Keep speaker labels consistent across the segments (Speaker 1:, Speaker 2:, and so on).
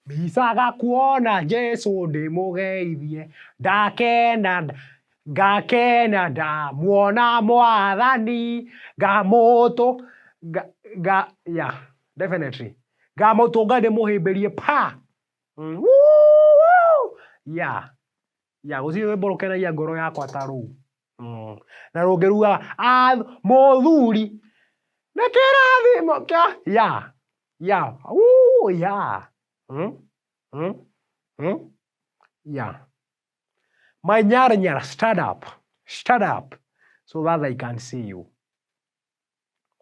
Speaker 1: Mbicaga kuona Jesu ndĩmũgeithie, ndakena ngakena ndamuona mwathani, ngamũtũ nga nga yeah definitely ngamũtũnga ndĩmũhĩmbĩrie paa! Woo! Yeah. Ya, gũtirĩ rwĩmbo rũkenagia ngoro yakwa ta rũu. Mm. Na rũngĩruga, "Ah, mũthuri, nĩ kĩrathimo kĩa... Ya, ya, uu, ya. Mm, mm, mm. Ya. My nyara nyara, stand up, stand up, so that I can see you.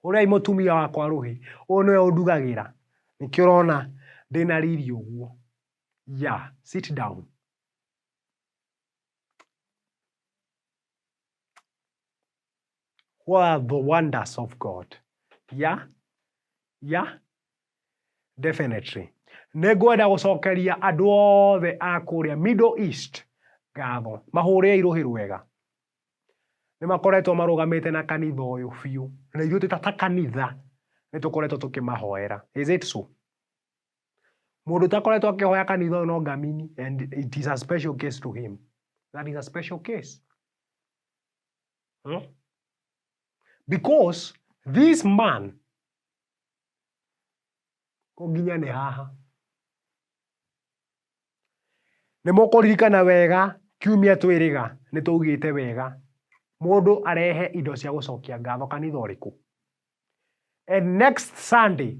Speaker 1: Ũrĩa mũtumia wakwa rũhĩ, ũyũ nĩwe ũndugagĩra. Nĩkĩo ũrona ndĩna riri ũguo. Ya, sit down. What are the wonders of God? Yeah? Yeah? Definitely. Nĩ ngwenda gũcokeria andũ othe a kũrĩa Middle East ngatho. Mahũrĩre irũhĩ rwega. Nĩ makoretwo marũgamĩte na kanitha ũyũ biũ. Na ithuĩ twĩ ta ta kanitha nĩ tũkoretwo tũkĩmahoera. Is it so? Mũndũ ũtakoretwo akĩhoya kanitha ũyũ no ngamini and it is a special case to him. That is a special case. Hmm? Because this man kũnginya nĩ haha nĩ mũkũririkana wega kiumia twĩrĩga nĩ twaugĩte wega mũndũ arehe indo cia gũcokia ngatho kanitha ũrĩkũ and next sunday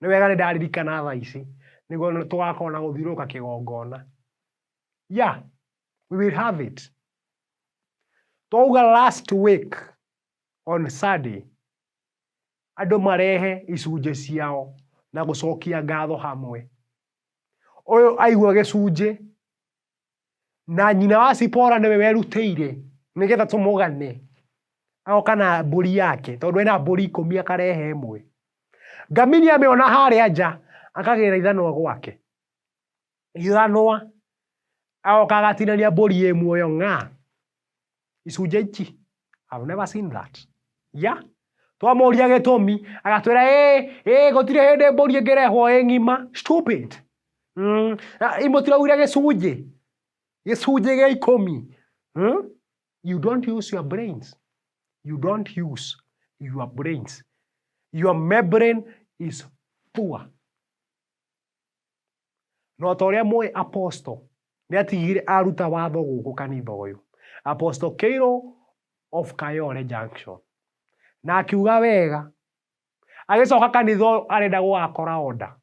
Speaker 1: Nĩ wega nĩ ndaririkana thaa ici, nĩguo tũgakorwo na gũthiũrũrũka kĩgongona. Yeah, we will have it. Twauga last week on Sunday, andũ marehe icunjĩ ciao na gũcokia ngatho hamwe. Ũyũ aigua gĩcunjĩ, na nyina wa cipora nĩwe werutĩire nĩgetha tũmũgane agoka na mbũri yake tondũ ena mbũri ikũmi akarehe ĩmwe ngamini amĩona harĩa nja akagĩra ithanwa gwake ithanwa agoka agatinania mbũri ĩ muoyo ng'a icunjĩ iki I've never seen that ya twamũria gĩtũmi agatwĩra ĩ ĩ gũtirĩ hĩndĩ mbũri ĩngĩrehwo ĩ ng'ima stupid mm, na- i mũtiraugire gĩcunjĩ gĩcunjĩ gĩa ikũmi hmm? you don't use your brains you don't use your brains your membrane is poor No ta ũrĩa mũĩ apostle nĩ atigire aruta watho gũkũ kanitha ũyũ. Apostle Keiro of Kayole Junction. Na akiuga wega. Agĩcoka kanitha ũyũ arenda gũgakora order.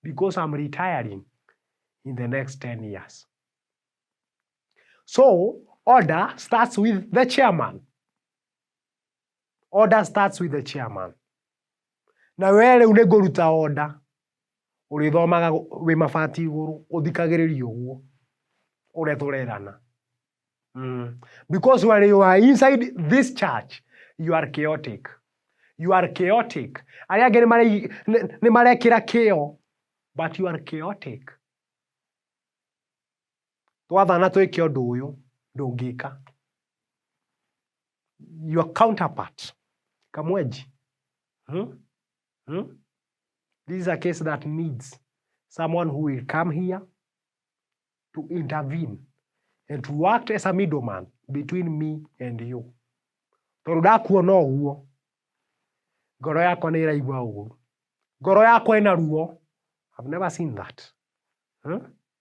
Speaker 1: Because I'm retiring in the next 10 years. So, order starts with the chairman. Order starts with the chairman. Na we rĩu nĩ ngũruta order. Ũrĩthomaga wĩ mabati igũrũ, ũthikagĩrĩria ũguo ũrĩa tũrerana. Mm. Because when you are inside this church, you are chaotic. You are chaotic. Arĩa angĩ nĩ marekĩra kĩo, but you are chaotic. Twathana twĩke ũndũ ũyũ ndũngĩka. Your counterpart kamwenji hmm? Hmm? This is a case that needs someone who will come here to intervene and to act as a middleman between me and you tondå ndakuona å guo ngoro yakwa nä ĩraigua ũru ngoro yakwa ĩna ruo I've never seen that huh?